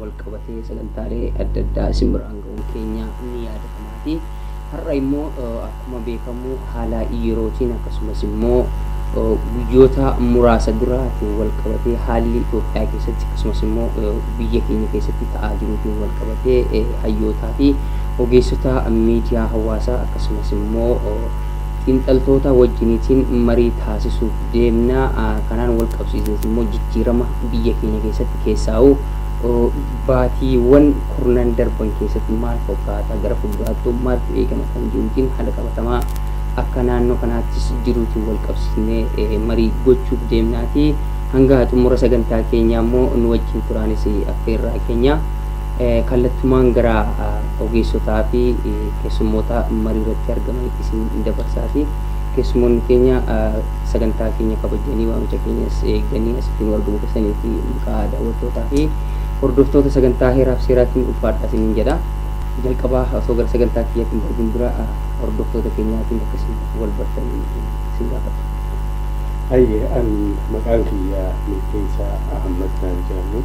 walqabatee sagantaalee adda addaa isin biraan ga'uun keenya ni yaadatamaati. Har'a immoo akkuma beekamu haala yerootiin akkasumas immoo guyyoota muraasa duraatiin walqabatee haalli Itoophiyaa keessatti akkasumas immoo biyya keenya keessatti ta'aa jiruutiin walqabatee hayyootaa fi ogeessota miidiyaa hawaasaa akkasumas immoo Xiinxaltootaa wajjiniitiin marii taasisuuf deemna. Kanaan walqabsiisnees immoo jijjiirama biyya keenya keessatti keessaa'uu baatiiwwan kurnan darban keessatti maal fokkaata gara fulduraattuu maaltu eegama kan jiruutiin haala qabatamaa akka naannoo kanaattis jiruutiin walqabsiisnee marii gochuuf deemnaati. Hanga xumura sagantaa keenyaa immoo nu wajjin turaanis affeerraa keenya. Kallattumaan gara ogeessotaa fi keessummoota marii irratti argamanitti isin dabarsaati. Keessummoonni keenya sagantaa keenya kabajanii waamicha keenyas eeganii asitti nu argamu keessanii fi maqaa daawwattootaa fi hordoftoota sagantaa heeraaf seeraatiin ulfaadhaa isiniin jedha. Jalqabaa osoo gara sagantaa kiyyaatiin darbin dura hordoftoota keenyaatiin akka isin wal bartanii isin gaafadha. Hayyee an maqaan kiyya Milkeessaa Ahmad naan jedhamu.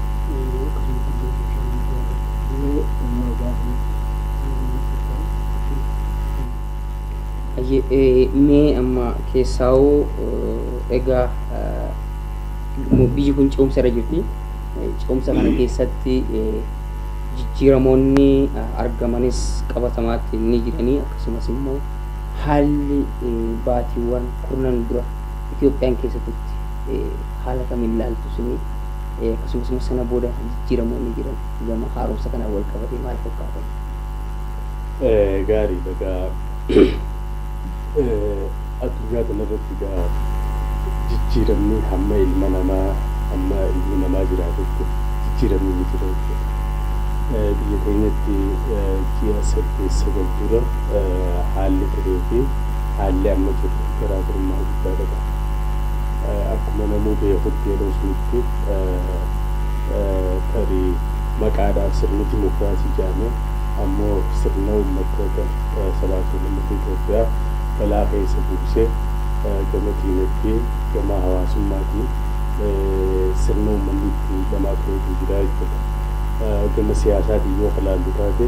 Yeroo akkasitti illee sooshaal miidiyaa irratti hiree uumaa gaafii yeroo maxxansan isin argina. Hayyee mee amma keessaawuu egaa biyyi kun ce'umsa irra jirti. Ce'umsa kana keessatti jijjiiramoonni argamanis qabatamaatti ni jiranii akkasumas immoo haalli baatiiwwan kurnan dura Itoophiyaan keessa turte haala kamiin ilaaltu isinii? Akkasumas immoo sana booda jijjiiramoonni jiran gama haaromsa kanaan wal qabatee maal fakkaatan? Gaariidha egaa addunyaa kanarratti egaa jijjiiramni hamma ilma namaa hamma ilmi namaa jiraatutti jijjiiramni ni jira jechuudha. Biyya keenyatti ji'a saddeet sagal dura haalli turee fi haalli amma jiru garaagarummaa guddaa qaba. Akkuma namuu beekutti yeroo sunitti tarii maqaadhaaf sirni dimokiraasii jedhame ammoo sirna uummattoota sabaa fi sablammoota Itoophiyaa balaa keessa buuse gama diinagdee, gama hawaasummaatiin sirna uummanni itti dhamaa turetu jira jechuudha. Gama siyaasaatiin yoo ka laallu taate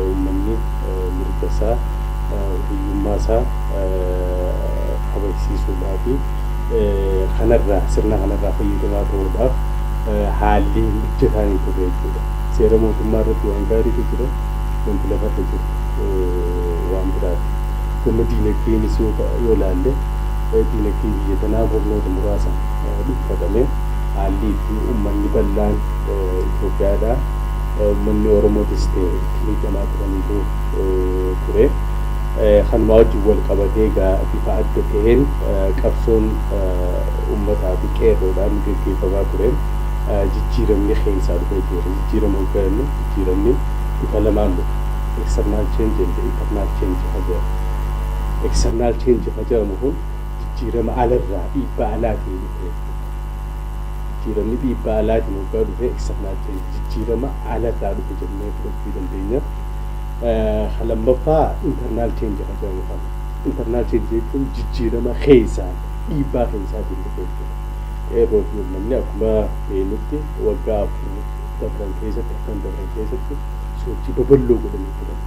uummanni mirga isaa, hiriyyummaa isaa, kabachiisuudhaafi kanarraa sirna kanarraa fayyadamaa ta'uudhaaf haalli mijataan hin turre jechuudha. Seera mootummaa irratti waan gaariitu jira, wanti lafarra jiru waan biraati. Gama diinagdeenis yoo ta- yoo ilaalle diinagdee biyya tanaa kurnoota muraasaan dhuunfatame haalli itti uummanni bal'aan Itoophiyaadhaa uummanni Oromootis ta'e itti miidhamaa turaniitu ture. Kanumaa wajjin wal qabatee egaa bifa adda ta'een qabsoon ummataa fi qeerroodhaan geggeeffamaa tureen jijjiiramni keessaa dhufee tureera. Jijjiirama oggaa jennu jijjiiramni bifa lamaan dhufa. External change and internal change ka jedhamu. External change ka jedhamu kun jijjiirama ala irraa dhiibbaa alaatiin dhufe jechuudha. Jijjiiramni dhiibbaa alaatiin oggaa dhufe external change jijjiirama ala irraa dhufe jennee fudhachuu dandeenya. Ka lammaffaa internal change ka jedhamu kana. Internal change jechuun jijjiirama keessaan, dhiibbaa keessaatiin dhufe jechuudha. Qeerroo fi uummanni akkuma beeknutti waggaa afur dabran keessatti, arfan dabran keessatti sochii babal'oo godhanii turan.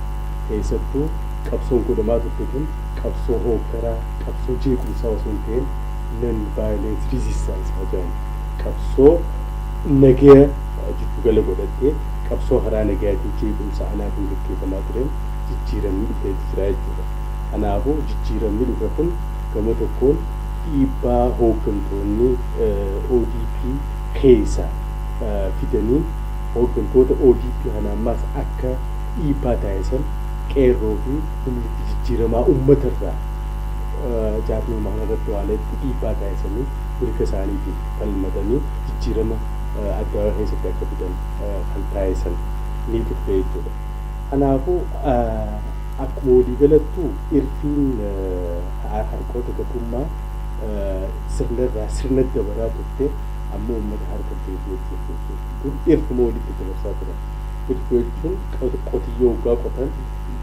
Keessattuu qabsoon godhamaa turte tun qabsoo hooggaraa, qabsoo jeequmsaa osoo hin ta'in non violence resistance ka jedhamu qabsoo nagaya jiddu gala godhattee, Qabsoo haraa nagayaatiin jeequmsa alaatiin gaggeefamaa tureen jijjiiramni dhufeeti jira jechuudha. Kanaafuu jijjiiramni dhufe kun gama tokkoon dhiibbaa hooggantoonni ODP keeysa fidaniin hooggantoota ODP kana ammaas akka dhiibbaa taasisan Qeerroo fi humniti jijjiiramaa ummata irraa jaarmiyuma kana irratti waan hedduu dhiibbaa taasisanii mirga isaaniitiif falmatanii jijjiirama addaawaa keessatti akka fidan kan taasisan ni turte jechuudha. Kanaafuu akkuma waliigalattuu irfiin harqoota gabrummaa sirna irraa sirna dabaraa turte amma uummata harka deebi'ee jirti jechuudha. Dur irfuma walitti dabarsaa turan. Irfi jechuun qotiyyoo hoggaa qotan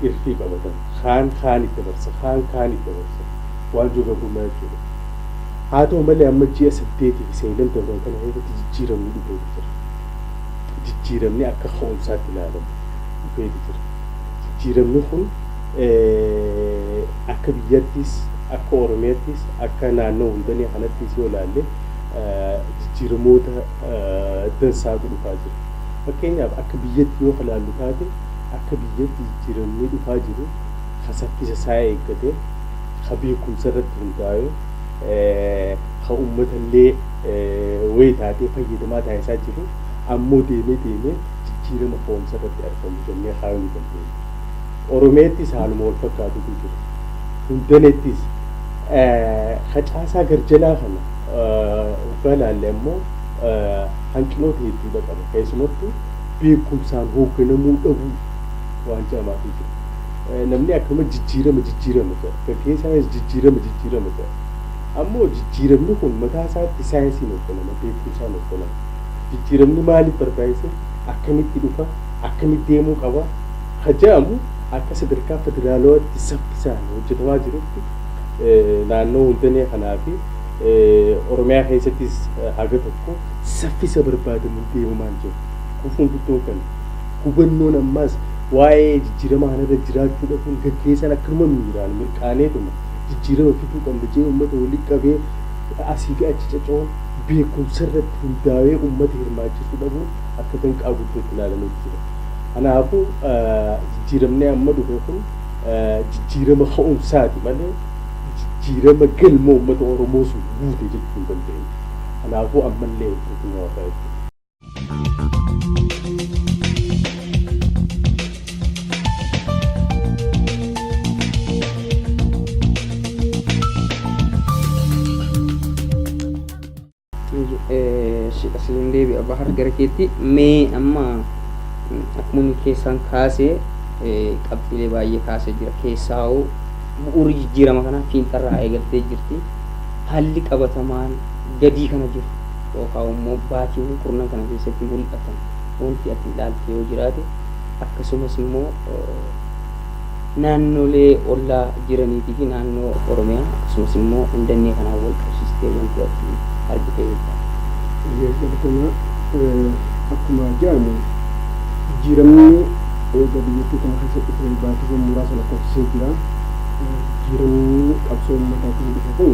irfii qabatan. Kaan kaaniif dabarsa, kaan kaaniif dabarsa. Waanjoon gabrummaa jechuudha. Haa ta'u malee amma ji'a saddeetii fi sadan darban kana keessatti jijjiiramni dhufeeti jira. Jijjiiramni akka ka'umsaatti ilaalamu dhufeeti jira. Jijjiiramni kun akka biyyattiis, akka Oromiyattiis, akka naannoo hundanii kanattiis yoo ilaalle jijjiiramoota dansaatu dhufaa jira. Fakkeenyaaf akka biyyatti yoo ilaallu taate akka biyyatti jijjiiramni dhufaa jiru kan saffisa isaa eeggate, ka beekumsa irratti hundaawe, ka ummata illee wayii taatee fayyadamaa taasisaa jiru, ammoo deemee deemee jijjiirama ka'umsa irratti argamu jennee kaayuu ni dandeenya. Oromiyaattis haaluma wal fakkaatutu jira. Hundanettis ka caasaa garjalaa kana hoggaa ilaalle ammoo hanqinoota hedduudha qaba. Keessumattuu beekumsaan hoogganamuu dhabuu waan jedhamaatu jira. Namni akkanuma jijjiirama jijjiirama jedha. Gaggeessaanis jijjiirama jijjiirama jedha. Ammoo jijjiiramni kun mataa isaatti saayinsiin hogganama, beekumsaan hogganama. Jijjiiramni maaliif barbaachise, akkamitti dhufa, akkamitti deemuu qaba ka jedhamu akka sadarkaa federaalawaatti saffisaan hojjetamaa jirutti naannoo Hundanee kanaa fi Oromiyaa keessattis haga tokko saffisa barbaadamuun deemamaa hin jiru. Gufuun guddoon kana. Hubannoon ammaas waa'ee jijjiirama kanarra jiraachuu dhabuun gaggeessaan akka numa miiraan mirqaaneetuma jijjiirama fiduu qabna jedhee ummata walitti qabee asii fi achi caca'uun beekumsarratti hundaawee ummata hirmaachisuu dhabuun akka danqaa guddootti ilaalameeti jira. Kanaafuu jijjiiramni amma dhufe kun jijjiirama ka'umsaati malee jijjiirama galma ummata Oromoos guute jechuu hin dandeenyu. Kanaafuu ammallee hin tuqinuu hafaa jechuudha. asiin deebi'a bahar gara keetti mee amma akkuma inni keessaan kaasee qabxiilee baay'ee kaasee jira keessaa hoo bu'uurri jijjiirama kanaa fiinxarraa eegaltee jirti haalli qabatamaan gadii kana jiru yookaa immoo baatiiwwan kurnan kana keessatti mul'atan wanti ati ilaalte yoo jiraate akkasumas immoo naannolee ollaa jiraniitii fi naannoo Oromiyaa akkasumas immoo Indannee kanaan wal qabsiistee wanti ati argite yoo jiraate. Eeyyee galatoomaa. Akkuma jedhame jijjiiramni eega biyyattii tana keessa dhufe baatiiwwan muraasa lakkoofsisee jira. Jijjiiramni qabsoo uummataatiin dhufe kun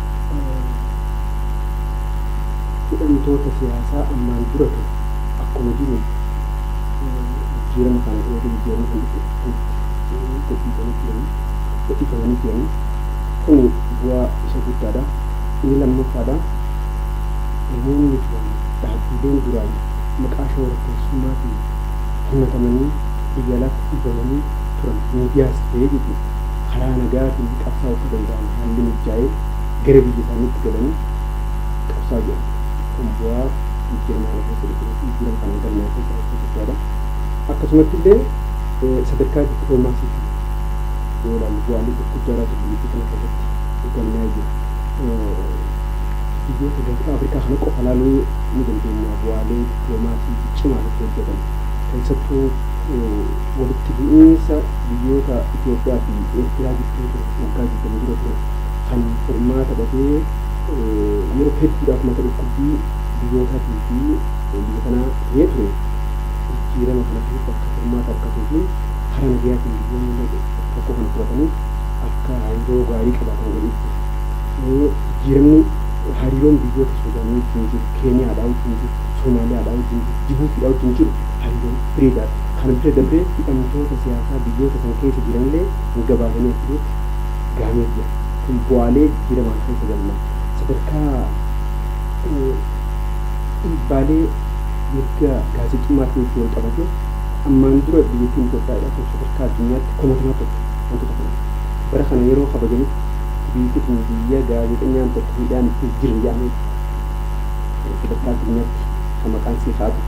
hidhamtoota siyaasaa ammaan dura ture akkuma jiruun jijjiirama kana eega jijjiiramni kun dhufe asitti gadhiifamanii turanii gadhiifamanii turanii kuni bu'aa isa guddaadha. Inni lammaffaadha namoonni turan dhaabbiileen duraan maqaa shororkeessummaatiin himatamanii biyya alaatti dhiibamanii turan miidiyaas ta'ee jechuudha. karaa nagayaatiin qabsaa'uu akka danda'an haalli mijjaa'ee gara biyya isaaniitti galanii qabsaa'aa jiran kun bu'aa jijjiiramaa kana keessa dhufe yookiin jijjiirama kanaan galmaa'e keessaa isa guddaadha. Akkasumatti illee sadarkaa dippiloomaasiitiin yoo ilaallu bu'aalee gurguddaadhaatu biyyattii kana keessatti galmaa'ee jira. Biyyoota gaanfa Afrikaa kana qofa ilaaluu ni dandeenya bu'aalee dippiloomaasii ciccimaan itti hojjetan keessattuu walitti bu'iinsa biyyoota Itoophiyaa fi Eertiraa gidduu ture waggaa 20 dura ture kan furmaata dhabee yeroo hedduudhaaf mata dhukkubbii biyyootaatii fi biyya kanaa ta'ee ture jijjiirama kana keessatti akka furmaata argatuu fi karaa nagayaatiin biyyoonni rakkoo kana furatanii akka hariiroo gaarii qabaatan godhee jira. Jijjiiramni hariiroon biyyoota Suudaanii wajjin jiru, Keeniyaadhaa wajjin jiru, Soomaaliyaadhaa wajjin jiru, Jibuutiidhaa wajjin jiru hariiroo bireedaadha. Kana bira dabree hidhamtoota siyaasaa biyyoota san keessa jiranillee hin gabaasanii akka jirutti gahamee jira. Kun bu'aalee jijjiiramaan keessa galma sadarkaa dhiibbaalee mirga gaazexummaatiin wajjin wal qabatee ammaan dura biyyattiin Itoophiyaa hidhamtoota sadarkaa addunyaatti komatamaa turte wantoota kanaaf. Bara kana yeroo kabajanitti biyyatti tun biyya gaazexenyaan tokko hidhaan itti hin jirre jedhameeti sadarkaa addunyaatti kan maqaan isii ka'aa ture.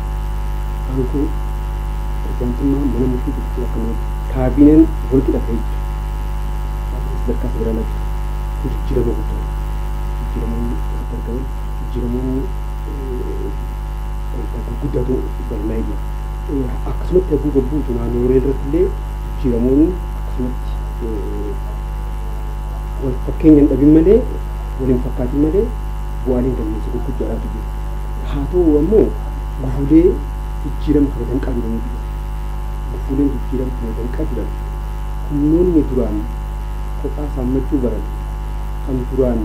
Aangoo pirezidaantummaa mana murtii guddichaa akka malee. Kaabineen walqixa ta'ee jira. Dhaabbileen sadarkaa federaalaa jiran kun jijjiirama guddaa dha. Jijjiiramoonni asitti argaman jijjiiramoonni wanta gurguddaatu galmaa'ee jira. Akkasumatti hagguu gabbuutu naannoolee irratti illee jijjiiramoonni akkasumatti wal fakkeenya hin dhabin malee wal hin fakkaatin malee bu'aaleen galmeessa gurguddaadhaatu jiru. Haa ta'uu ammoo gufuulee jijjiirama kana kan qabu eenyutu dhufe? Gufuuleen jijjiirama kana kan qabdan humnoonni duraan kophaa saammachuu baran, kan duraan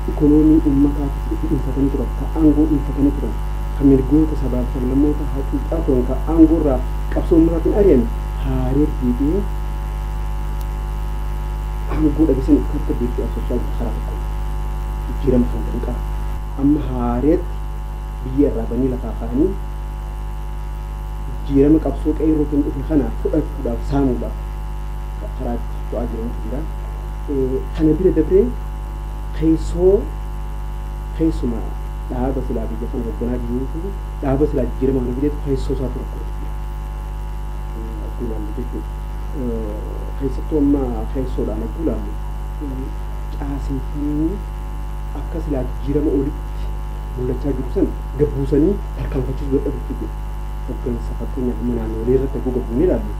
ikonoomii ummataa tokko dhuunfatanii turan, kan aangoo dhuunfatanii turan, kan mirgoota sabaa fi sablammootaa hacuucaa turan, kan aangoo irraa qabsoo ummataatiin ari'ame haaree deebi'ee aangoo dhabe san of keessatti deebisee absachaa jiru karaa tokkoon jijjiirama kana kan qabu. Amma haareetti biyya irraa banii lafaa ka'anii jijjiirama qabsoo qeerrootiin dhufe kana fudhachuudhaaf saamuudhaaf karaa itti socho'aa jirantu jira. Kana bira dabree keessoo keessuma dhaaba silaa biyya kana hogganaa jiruutu dhaaba silaa jijjiirama kana fideetu keessoo isaatu rakkoo jira. Akkuma ilaallu jechuudha. Keessattuu amma keessoodhaan akkuma ilaallu caaseffamni akka silaa jijjiirama olitti mul'achaa jiru san gad buusanii tarkaanfachiisuu dadhabuutu jira. Hoggansa fakkeenyaaf amma naannoolee irratti akkuu gad buunee ilaallu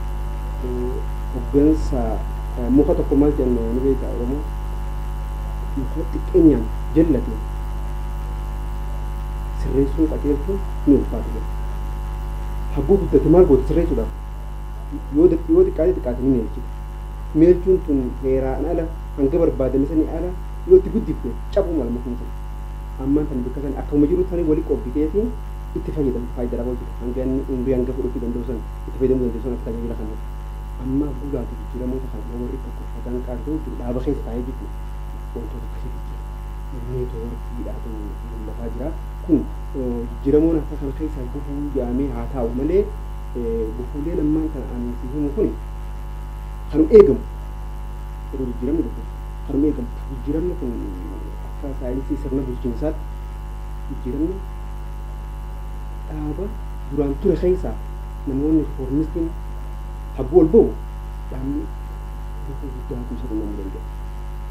hoggansa muka tokko maal jedhan ni beektaa Oromoo muka xiqqeenyaan jallate sirreessuun qajeelchuun ni ulfaata jedha. Hagguu guddate maal goota sirreessuudhaaf yoo xiqqaate xiqqaate ni meelchita. Meelchuun tun heeraan ala hanga barbaadame sanii ala yoo itti guddifte cabuu mala mukni sun. Ammaan tana bikka san akkuma jirutti sanii wali qobbiteeti itti fayyadamta faayida irra oolchita hanga inni umrii hanga fudhachuu danda'u san itti fayyadamuu dandeessu san akka tajaajila kanaati. Ammaa gulaati jijjiiramoota kana yoo warri tokko sadan qaartuu jiru dhaaba keessa taa'ee jechuudha wantoota akkasiitu jira. Neetwoorkiidhaatu mul'ataa jira. Kun jijjiiramoon akka kana keessaa gufuu jaamee haa taa'u malee gufuuleen ammaan tana ani si himu kuni kanum eegamu yeroo jijjiiramni dhufu. harmee galtu. Jijjiiramni kun akka saayinsii sirna bulchiinsaatti jijjiiramni dhaaba duraan ture keessaa namoonni rifoormistiin hagguu ol ba'u dhaabni gufuu guddaatu isa qunnamuu danda'a.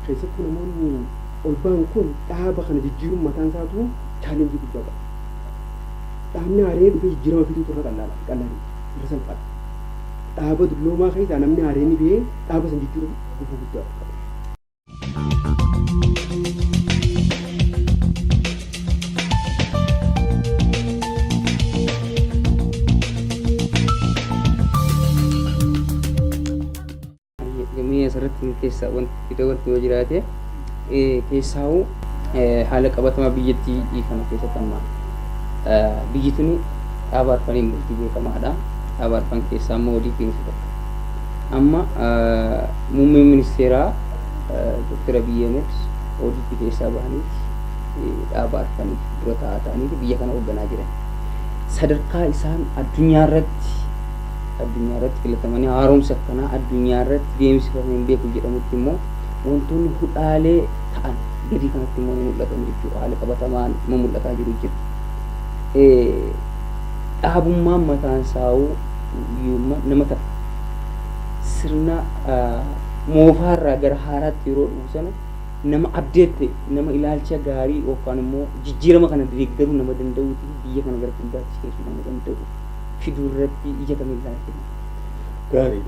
Keessattuu namoonni ol ba'an kun dhaaba kana jijjiiruun mataan isaatu chaalenjii guddaa qaba. Dhaabni haaree dhufee jijjiirama fiduutu irra qallaadha, qallaa miti, irra salphaadha. Dhaaba dulloomaa keessaa namni haareen ba'ee dhaaba san jijjiiruun gufuu guddaa akka ta'e. Gamee asirratti keessaa wanti fida wanti yoo jiraate. Keessaahuu haala qabatamaa biyyattii kana keessatti amma biyyi tuni dhaaba arfaniin bultii beekamaadha. Dhaaba arfan keessaa immoo ODP isa tokko. Amma muummeen ministeeraa Dr. Abiy Ahmed ODP keessaa bahaniiti dhaaba arfaniif dura taa'aa ta'aniiti biyya kana hoogganaa jiran. Sadarkaa isaan addunyaa irratti addunyaa irratti filatamanii haaromsa akkanaa addunyaa irratti deemsifamee hin beeku jedhamutti immoo wantoonni hudhaalee ta'an gadii kanatti immoo ni mul'atan jechuudha. Haala qabatamaan ma mul'ataa jiru jira. Dhaabummaan mataan saa'uu nama ta'a. Sirna moofaarraa gara haaraatti yeroo dhufu sana nama abdeette nama ilaalcha gaarii yookaan immoo jijjiirama kana deeggaruu nama danda'uu fi biyya kana gara fuulduraatti ceesuu nama danda'u fiduu irratti ija kamiin ilaaltee? Gaarii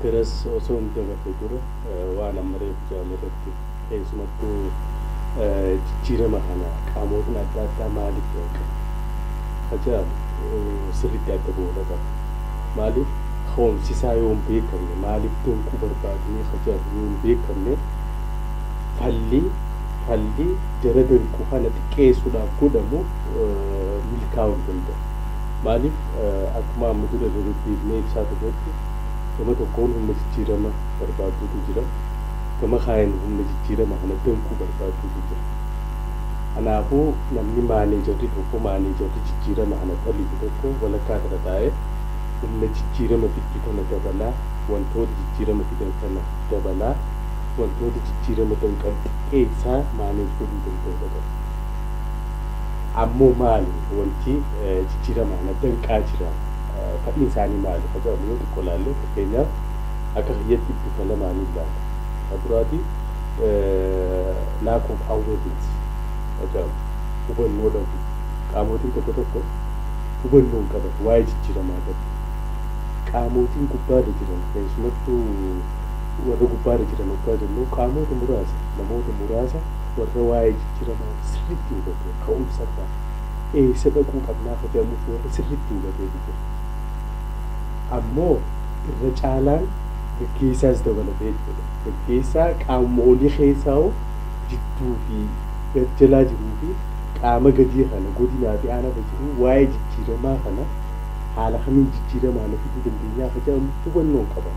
garas osoo hin dabarre dura waan amma reefu jedhame irratti keessumattuu jijjiirama kana qaamootni adda addaa maaliif danqan ka jedhamu sirriitti adda ba'uudha qaba. Maaliif ka'umsisaa yoo hin beekamne maaliif danquu barbaadnee ka jedhamu yoo hin beekamne falli falli jara danqu kana xiqqeessuudhaaf godhamu milkaa'uu hin danda'u. Maaliif akkuma amma dura dededdeebinee ibsaa turretti gama tokkoon humna jijjiirama barbaadduutu jira, gama kaaniin humna jijjiirama kana danquu barbaadduutu jira. Kanaafuu namni maaneejarri tokko, maaneejarri jijjiirama kana talitu tokko walakkaa kana taa'ee humna jijjiirama fiddu tana dabalaa, wantoota jijjiirama fidan kana dabalaa, wantoota jijjiirama danqan xiqqeessaa maaneej godhuu danda'uudha qabu. Ammoo maali wanti jijjiiramaa na danqaa jira, fadhiin isaanii maali ka jedhamu yoo xiqqo laalle, fakkeenyaaf akka kiyyatti bifa lamaaniin laala. Ka duraati lack of awareness ka jedhamu, hubannoo dhabuu. Qaamootiin tokko tokko hubannoo hin qaban waa'ee jijjiiramaa irratti. Qaamootiin gubbaa irra jiran keessumattuu warra gubbaa irra jiran oggaa jennu qaamoota muraasa, namoota muraasa. Warra waa'ee jijjiramaa sirriitti hubatee ka'umsarraa eessa dhaquu qabnaa ka jedhamuuf warra sirriitti hubateetu jira. Ammoo irra caalaan gaggeessaas dabalatee jechuudha. Gaggeessaa qaamuma olii keessaahuu jidduu fi gad jalaa jiruu fi qaama gadii kana godinaa fi aanaarra jiruu waa'ee jijjiiramaa kana haala kamiin jijjiiramaa na fiduu dandeenyaa ka jedhamu hubannoo hin qaban.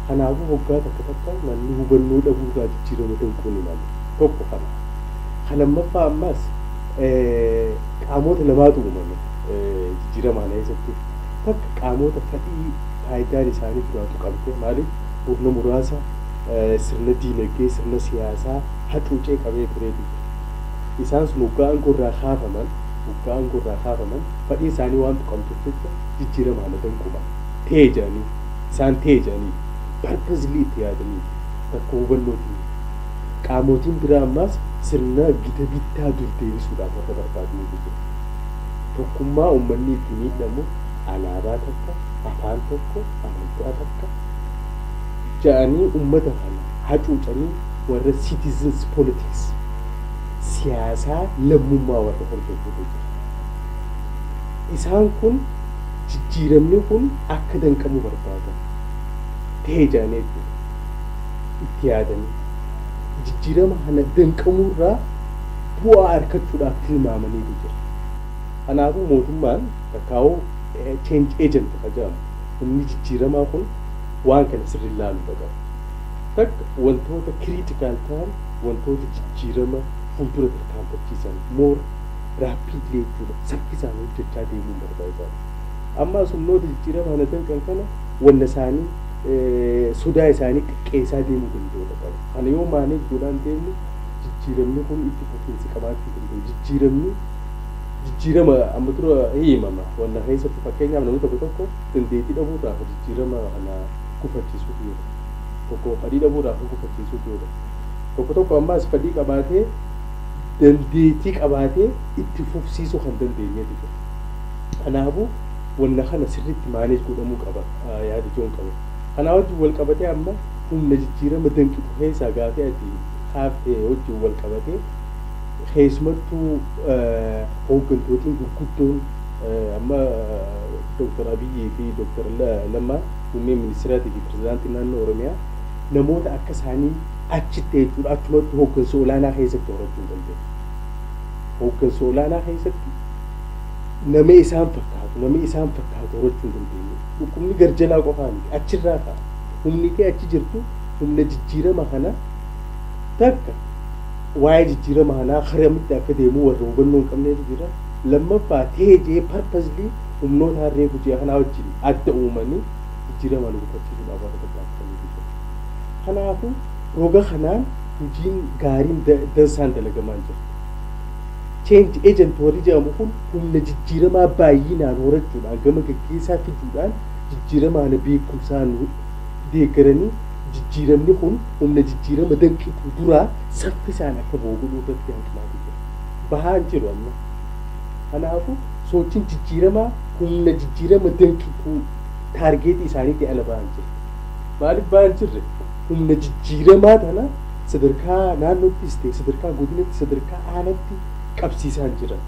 Kanaafuu hoggaa takka takka namni hubannoo dhabuu irraa jijjiirama danquu ni mala. Tokko kana. Ka lammaffaa ammaas qaamoota lamaatu uumame jijjiirama kana keessatti. Takka qaamoota fadhii faaydaan isaanii duraa tuqamte maaliif murna muraasa sirna diinagdee, sirna siyaasaa hacuucee qabee tureetu jira. Isaan sun hoggaa aangoo irraa kaafaman hoggaa aangoo irraa kaafaman fadhiin isaanii waan tuqamtuuf jecha jijjiirama kana danquu mala. ta'e jedhanii, isaan ta'e jedhanii, purposely itti yaadanii, rakkoo hubannootiin, qaamootiin biraa ammaas sirna gita bittaa dur deebisuudhaaf warra barbaadaniitu jiru. Tokkummaa ummanni itti miidhamu alaabaa takka, afaan tokko, amantaa takka jedhanii ummata kana hacuucanii warra citizens politics, siyaasaa lammummaa warra hordofuutu jira. Isaan kun. jijjiiramni kun akka danqamu barbaada tahe jedhanii jechuudha itti yaadanii jijjiirama kana danqamuu irraa bu'aa arkachuudhaaf tilmaamaniitu jira. Kanaafuu mootummaan takkaawuu change agent ka jedhamu humni jijjiiramaa kun waan kana sirriin laaluudha qaba. Takka wantoota critical tahan wantoota jijjiirama fuuldura tarkaanfachiisan more rapidly jechuudha saffisaan hojjechaa deemuu mataa isaati. Ammaas humnoota jijjiirama kana danqan kana wanna isaanii sodaa isaanii xiqqeessaa deemuu danda'uudha qabu. Kana yoo maaneej godhaan deemne jijjiiramni kun itti fufiinsi qabaachuu danda'u. Jijjiiramni jijjiirama amma dura himama wanna keessatti fakkeenyaaf namni tokko tokko dandeettii dhabuurraa ka jijjiirama kana gufachiisuutu jira. Tokko fadhii dhabuurraa ka gufachiisuutu jira. Tokko tokko ammaas fadhii qabaatee dandeettii qabaatee itti fufsiisuu kan dandeenyetu jira. Kanaafuu wanna kana sirriitti manage godhamuu qaba yaada ijoon qaba. Kanaa wajjin wal qabatee amma humna jijjiirama danqitu keessaa gaafii ati kaafte wajjin wal qabatee keessumattuu hooggantootiin gurguddoon amma Dr. Abiyyii fi Dr. Lammaan Muummeen Ministiraatii fi Pirezidaantiin Naannoo Oromiyaa namoota akka isaanii achitti jechuudha achumattuu hooggansa olaanaa keessatti horachuu hin dandeenye. Hooggansa olaanaa keessatti namee isaan fakkaatu namee isaan fakkaatu horachuu hin dandeenye dhukkubni garjalaa qofaa miti achirraa ka'a humni kee achi jirtu humna jijjiirama kana takka waa'ee jijjiirama kanaa karamitti akka deemu warra hubannoo hin qabneetu jira lammaffaa teejee parpazlii humnoota harree gujee kanaa wajjin adda uumanii jijjiirama nu gufachiisuudhaaf warra tattaaffataniitu jira kanaafuu roga kanaan hojiin gaariin da- dansaan dalagamaan jira Change agent warri jedhamu kun humna jijjiiramaa baay'inaan horachuudhaan gama gaggeessaa fiduudhaan jijjiirama kana beekumsaan deeggaranii jijjiiramni kun humna jijjiirama danqitu duraa saffisaan akka ba'u godhuu irratti hanqinaatu jira. Bahaa hin jiru amma. Kanaafuu sochiin jijjiiramaa humna jijjiirama danqituu taargeetii isaaniitii ala bahaa hin jirre. Maaliif bahaa hin jirre? Humna jijjiiramaa tana sadarkaa naannoottis ta'e sadarkaa godinatti sadarkaa aanatti qabsiisaa hin jiran.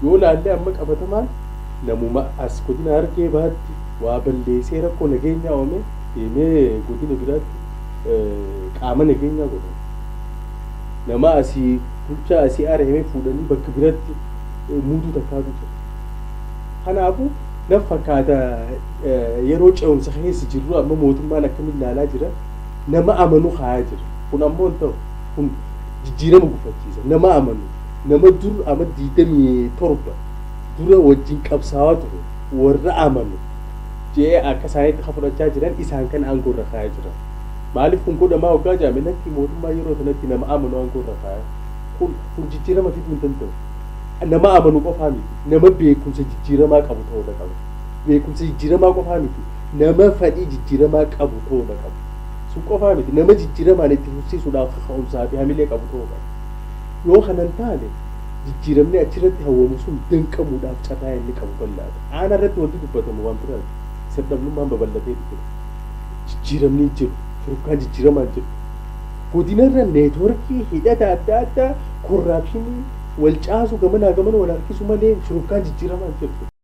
Yoo laallee amma qabatamaan namuma as godina Harargee Bahaatti waa balleesee rakkoo nageenyaa uumee deemee godina biraatti qaama nageenyaa godhame. Nama asii bulchaa asii ari'amee fuudhanii bakka biratti muuduu takkaatu jira. Kanaafuu naf fakkaata yeroo ce'umsa keessa jirru amma mootummaan akkamiin laalaa jira. nama amanu kaayaa jira. Kun ammoo hin ta'u. Kun jijjiirama gufachiisa. Nama amanu, nama dur ama 27 dura wajjin qabsaawaa ture, warra amanu je'ee akka isaaniitti ka fudhachaa jiran isaan kana aangoo irra kaayaa jira. Maaliif kun godhamaa hoggaa ja'ame lakki mootummaa yeroo sanatti nama amanu aangoo irra kaaya. Kun, kun jijjiirama fiduu hin danda'u. Nama amanu qofaa miti. Nama beekumsa jijjiiramaa qabu ta'uudha qaba. Beekumsa jijjiiramaa qofaa miti, nama fadhii jijjiiramaa qabu ta'uu dha qabu. Sun qofaa miti, nama jijjiiramaan itti fufsiisuudhaaf kaka'umsaa fi hamilee qabu ta'uu qaba. Yoo kana hin taane, jijjiiramni achi irratti hawwamu sun danqamuudhaaf carraa inni qabu bal'aa dha. Aanaa irratti wanti dubbatamu waan biraa ti. Sir-dhabnummaan babal'atee jira. Jijjiiramni hin jiru. Shururkaan jijjiiramaa hin jiru. Godina irra neetworkii, hidhata adda addaa, korraapshinii, wal caasu, gamanaa gamana wal harkisu malee shururkaan jijjiiramaa hin jiru.